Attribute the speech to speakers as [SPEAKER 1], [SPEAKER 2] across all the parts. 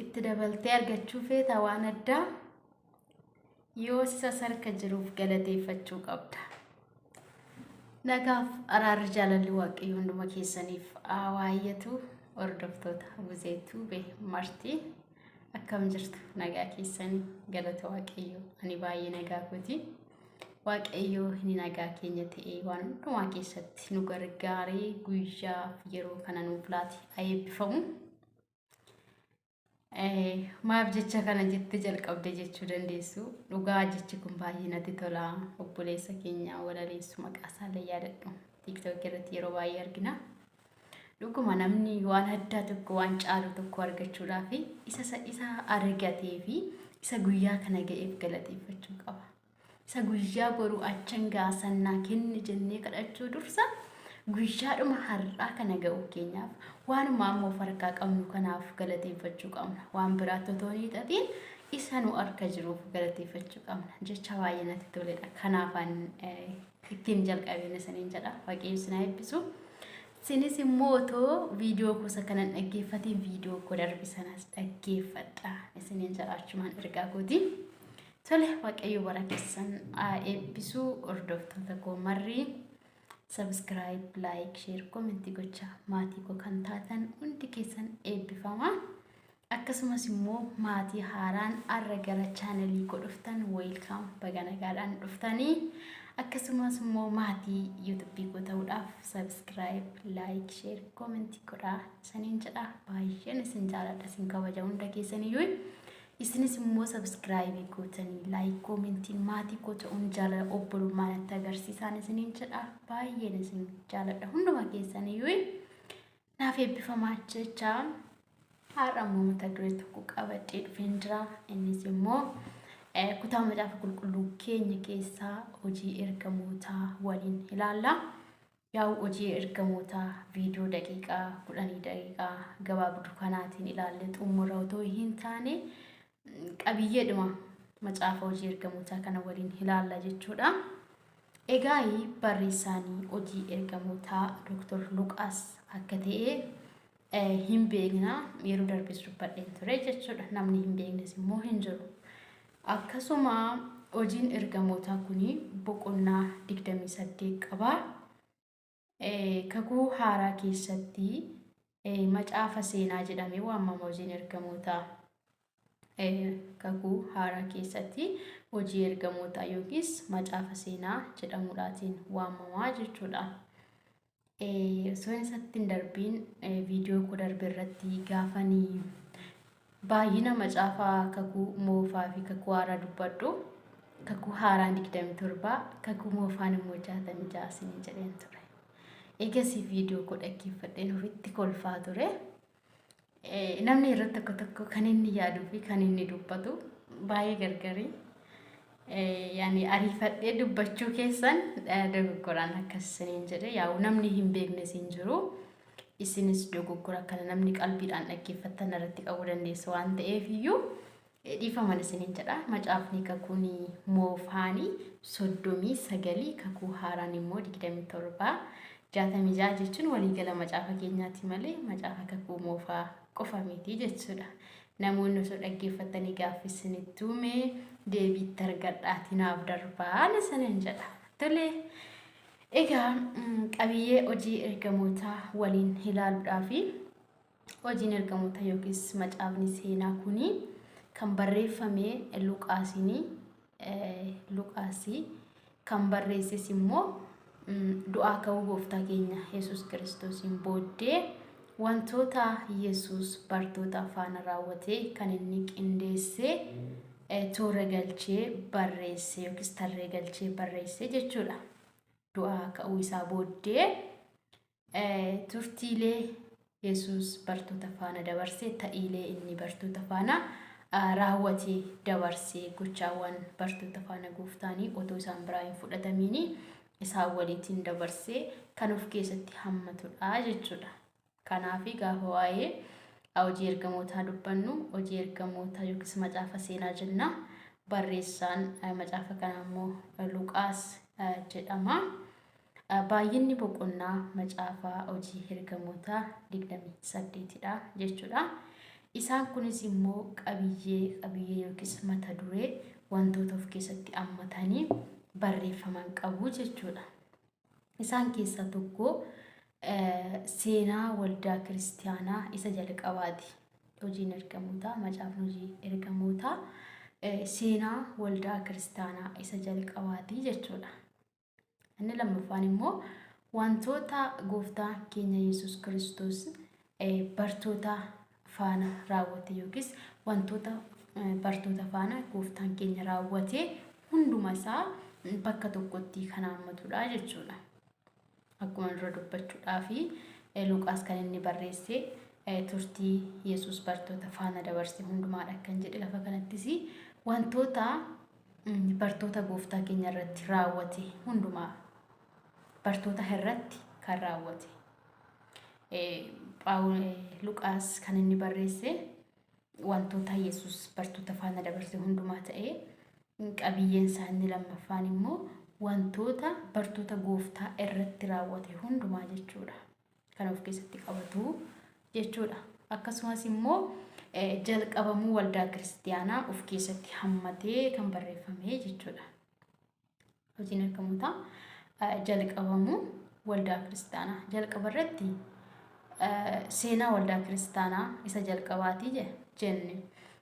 [SPEAKER 1] itti dabaltee argachuu feeta waan addaa yoo isa sarka jiruuf galateeffachuu qabda. Nagaaf araarri jaalalli waaqayyo hunduma keessaniif haa waayyatu hordoftoota Buzee Tuube marti akkam jirtu nagaa keessanii galata waaqayyo ani baay'ee nagaa kooti waaqayyo inni nagaa keenya ta'ee waan hundumaa keessatti nu gargaaree guyyaa yeroo kana nuuf laate haa eebbifamu. Maaf jecha kana jette jalqabde jechuu dandeessu. Dhugaa jechi kun baay'ee natti tola. Obboleessa keenya walaleessu maqaa isaallee yaadadhu. TikTok irratti yeroo baay'ee argina. Dhuguma namni waan addaa tokko waan caalu tokko argachuudhaaf isa isa argatee fi isa guyyaa kana ga'eef galateeffachuu qaba. Isa guyyaa boruu achan ga'a san naa kenni jennee kadhachuu dursa guyyaadhuma har'aa kana ga'uu keenyaaf waanuma amma of harkaa qabnu kanaaf galateeffachuu qabna. Waan biraatti otoo hin hiixatiin isa nu harka jiruuf galateeffachuu qabna. Jecha baay'ee natti toledha. Kanaafan eh, ittiin jalqabeen isiniin jedha. Waaqayyo isin haa eebbisu. Isinis immoo otoo viidiyoo gosa kanan dhaggeeffatiin viidiyoo koo darbe sanas dhaggeeffadha. Isiniin jedha achumaan ergaa kooti. Tole waaqayyo bara keessan haa eebbisu hordoftoota koo marri sabiskiraayib laayik sheer koomentii gochaa maatii koo kan taatan hundi keessan eebbifama akkasumas immoo maatii haaraan arra gara chaanalii koo dhuftan weelkaam baga nagaadhaan dhuftanii akkasumas immoo maatii yuutubii koo ta'uudhaaf sabiskiraayib laayik sheer koomentii godhaa isaniin jedha baay'een isin jaaladha isin kabaja hunda keessaniyyuu Isinis immoo subscribe gootanii like commentiin maatii koo ta'uun jaalala obbolummaa natti agarsiisaan isiniin jedha baay'een isin jaaladha hunduma keessaniyyuu naaf eebbifamaa jecha har'a immoo mata duree tokko qabadhee dhufeen jira innis immoo eh, kutaa macaafa qulqulluu keenya keessaa hojii ergamootaa waliin ilaalla. Yaa'u Hojii Ergamootaa viidiyoo daqiiqaa 10 daqiiqaa gabaabdu kanaatiin ilaalle xumurra otoo hin taane qabiyyeedhuma macaafa hojii ergamootaa kana waliin ilaalla jechuudha. Egaa barreessaanii hojii ergamootaa Dr. Luqaas akka ta'e hin beekna yeroo darbes dubbadheen ture jechuudha namni hin beeknes immoo hin jiru akkasuma hojiin ergamootaa kun boqonnaa 28 qaba kakuu haaraa keessatti macaafa seenaa jedhamee waamama hojiin ergamootaa Kakuu Haaraa keessatti Hojii Ergamootaa yookiis Macaafa Seenaa jedhamuudhaatiin waamamaa jechuudha. Osoo hin isatti hin darbiin viidiyoo koo darbe irratti gaafanii baay'ina macaafa kakuu moofaa fi kakuu haaraa dubbadhu. Kakuu haaraan 27, kakuu moofaan immoo 66 isin jedheen ture. Eegasii viidiyoo koo dhaggeeffadheen ofitti kolfaa ture. Namni yeroo tokko tokko kan inni yaaduu fi kan inni dubbatu baay'ee gargari. Yaani ariifadhee dubbachuu keessan dogoggoraan akkas isiniin jedhe yaa'u namni hin beeknes hin jiru. Isinis dogoggora kana namni qalbiidhaan dhaggeeffattan irratti qabu dandeessu waan ta'eef iyyuu Dhiifaman isiniin jedha. Macaafni kakuun moofaani soddomii sagalii kakuu haaraan immoo digdamii torba jaatamii ja'a jechuun waliigala macaafa keenyaati malee macaafa kakuu moofaa qofa miti jechuudha. Namoonni osoo dhaggeeffattanii gaaffii isinitti uume deebiitti argadhaatii naaf darbaan isiniin jedha. Tole egaa qabiyyee hojii ergamootaa waliin ilaaluudhaafi Hojiin Ergamoota yookiis macaafni seenaa kun kan barreeffame Luqaasiin Luqaasii kan barreesses immoo du'aa ka'uu gooftaa keenya Yesuus Kiristoosiin booddee wantoota Yesuus bartoota faana raawwate kan inni qindeessee toora galchee barreesse yookiis tarree galchee barreesse jechuudha. Du'aa ka'uu isaa booddee Turtiilee Yesuus bartoota faana dabarse ta'iilee inni bartoota faana raawwatee dabarse gochaawwan bartoota faana gooftaanii otoo isaan biraa hin fudhatamiin isaan waliitiin dabarse kan of keessatti hammatudha jechuudha. Kanaaf gaafa waa'ee hojii ergamootaa dubbannu hojii ergamootaa yookiis macaafa seenaa jenna. Barreessaan macaafa kanaa immoo Luqaas jedhama. Baay'inni boqonnaa macaafa hojii ergamootaa 28 dha jechuudha. Isaan kunis immoo qabiyyee qabiyyee yookiis mata duree wantoota of keessatti ammatanii barreeffaman qabu jechuudha. Isaan keessaa tokko seenaa waldaa kiristaanaa isa jalqabaati. Hojiin ergamootaa macaafni hojii ergamootaa seenaa waldaa kiristaanaa isa jalqabaati jechuudha. Inni lammaffaan immoo wantoota gooftaa keenya Yesuus Kiristoos eh, bartoota faana raawwate yookiis wantoota eh, bartoota faana gooftaan keenya raawwate hunduma isaa bakka tokkotti kan haammatudha jechuudha. Akkuma dura dubbachuudhaa fi eh, Luqaas kan inni barreesse eh, turtii Yesuus bartoota faana dabarse hundumaadha kan jedhe lafa kanattis wantoota Inni bartoota Gooftaa keenya irratti raawwate hundumaa bartoota irratti kan raawwate. Luqaas kan inni barreesse wantoota Yesuus bartoota faana dabarse hundumaa ta'ee qabiyyeen isaa inni lammaffaan immoo wantoota bartoota Gooftaa irratti raawwate hundumaa jechuudha. kan of keessatti qabatu jechuudha. Akkasumas immoo jalqabamuu waldaa kiristiyaanaa of keessatti hammatee kan barreeffame jechuudha. Hojiin ergamootaa jalqabamuu waldaa kiristaanaa jalqaba irratti seenaa waldaa kiristaanaa isa jalqabaati jenne.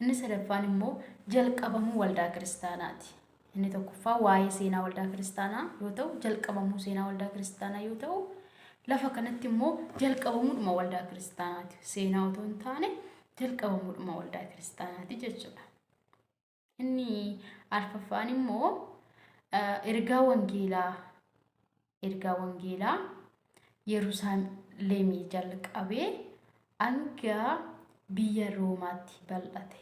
[SPEAKER 1] Inni sadaffaan immoo jalqabamuu waldaa kiristaanaati. Inni tokkoffaa waa'ee seenaa waldaa kiristaanaa yoo ta'u, jalqabamuu seenaa waldaa kiristaanaa yoo ta'u, lafa kanatti immoo jalqabamuudhuma waldaa kiristaanaati. Seenaa otoo hin taane jalqabamuudhuma waldaa kiristaanaati jechuudha. Inni arfaffaan immoo ergaa wangeelaa ergaa wangeelaa Yerusaalemii jalqabee hanga biyya Roomaatti bal'ate.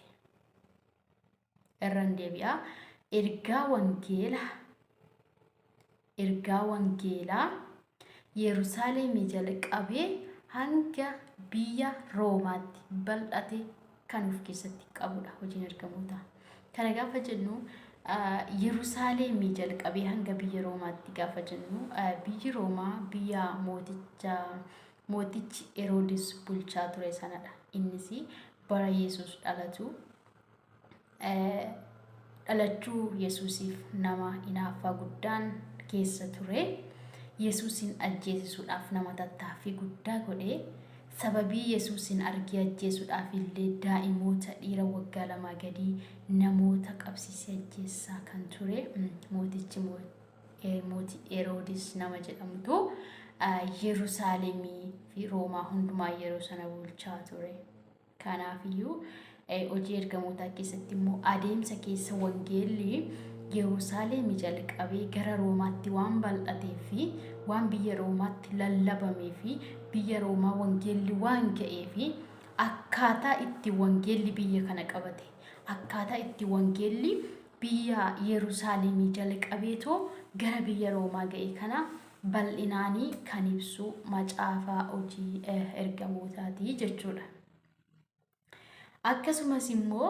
[SPEAKER 1] Irran deebi'a. Ergaa wangeela ergaa wangeelaa Yerusaalemii jalqabee hanga biyya Roomaatti bal'ate kan of keessatti qabudha hojiin ergamootaa. Kana gaafa jennu Yerusaalemii jalqabee hanga biyya Roomaatti gaafa jennu biyyi Roomaa biyya mooticha mootichi Heroodis bulchaa ture sanadha. Innis bara Yesuus dhalatu Dhalachuu Yesuusiif nama inaaffaa guddaan keessa ture. Yesuusiin ajjeesisuudhaaf nama tattaaffii guddaa godhe. Sababii Yesuusiin argee ajjeesuudhaaf illee daa'imoota dhiira waggaa lamaa gadii namoota qabsiisee ajjeessaa kan ture mootichi mootii Heroodis nama jedhamutu Yerusaalemii fi Roomaa hundumaa yeroo sana bulchaa ture. Kanaafiyyuu hojii ergamootaa keessatti immoo adeemsa keessa wangeelli Yerusaalemi jalqabee gara Roomaatti waan bal'atee fi waan biyya Roomaatti lallabamee fi biyya Roomaa wangeelli waan ga'ee fi akkaataa itti wangeelli biyya kana qabate akkaataa itti wangeelli biyya Yerusaalemii jalqabeetoo gara biyya Roomaa ga'e kana bal'inaani kan ibsu macaafa hojii ergamootaati jechuudha. Akkasumas immoo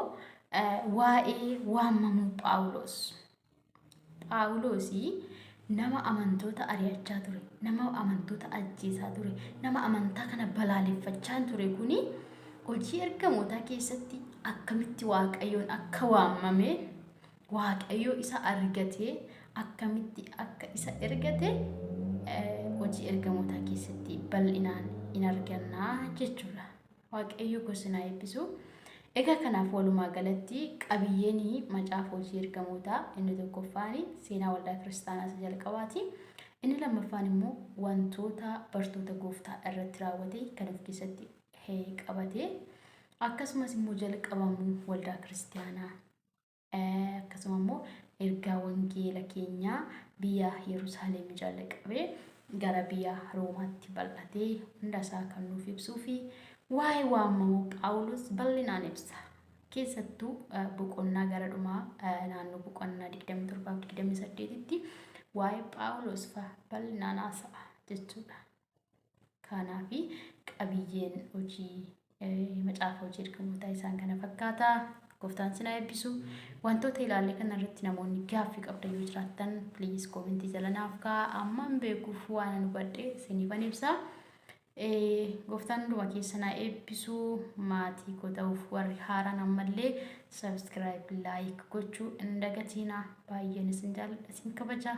[SPEAKER 1] waa'ee waamamuu Phaawulos. Phaawulos nama amantoota ari'achaa ture, nama amantoota ajjeesaa ture, nama amantaa kana balaaleffachaa ture kuni hojii ergamootaa keessatti akkamitti waaqayyoon akka waamame Waaqayyo isa argatee akkamitti akka isa ergate hojii ergamootaa keessatti bal'inaan in argannaa jechuudha. Waaqayyo gosinaa eebbisu. Egaa kanaaf walumaa galatti qabiyyeen macaafa hojii ergamootaa inni tokkoffaan seenaa waldaa kiristaanaa isa jalqabaati. Inni lammaffaan immoo wantoota bartoota gooftaa irratti raawwate kan of keessatti qabate akkasumas immoo jalqabamuu waldaa kiristaanaa Akkasuma immoo ergaa wangeela keenyaa biyya Yerusaalem jalqabee gara biyya Roomaatti bal'atee hunda isaa kan nuuf ibsuu fi waa'ee waamamuu Phaawulos bal'inaan ibsa. Keessattuu eh, boqonnaa gara dhumaa eh, naannoo boqonnaa 27 fi 28tti waa'ee Phaawulos fa'a bal'inaan haasa'a jechuudha. kaanaa fi qabiyyeen hojii macaafa hojii ergamootaa isaan kana fakkaata. Gooftaan sinaa eebbisu. Wantoota ilaalle kana irratti namoonni gaaffii qabda yoo jiraattan please koomentii jala naaf ka'a. Amman beekuuf waan nu badhe siniifan ibsa. Gooftaan hunduma keessa naa eebbisu maatii koo ta'uuf warri haaraan ammallee subscribe like gochuu hin dagatiina. Baay'een isin jaalladha isin kabaja.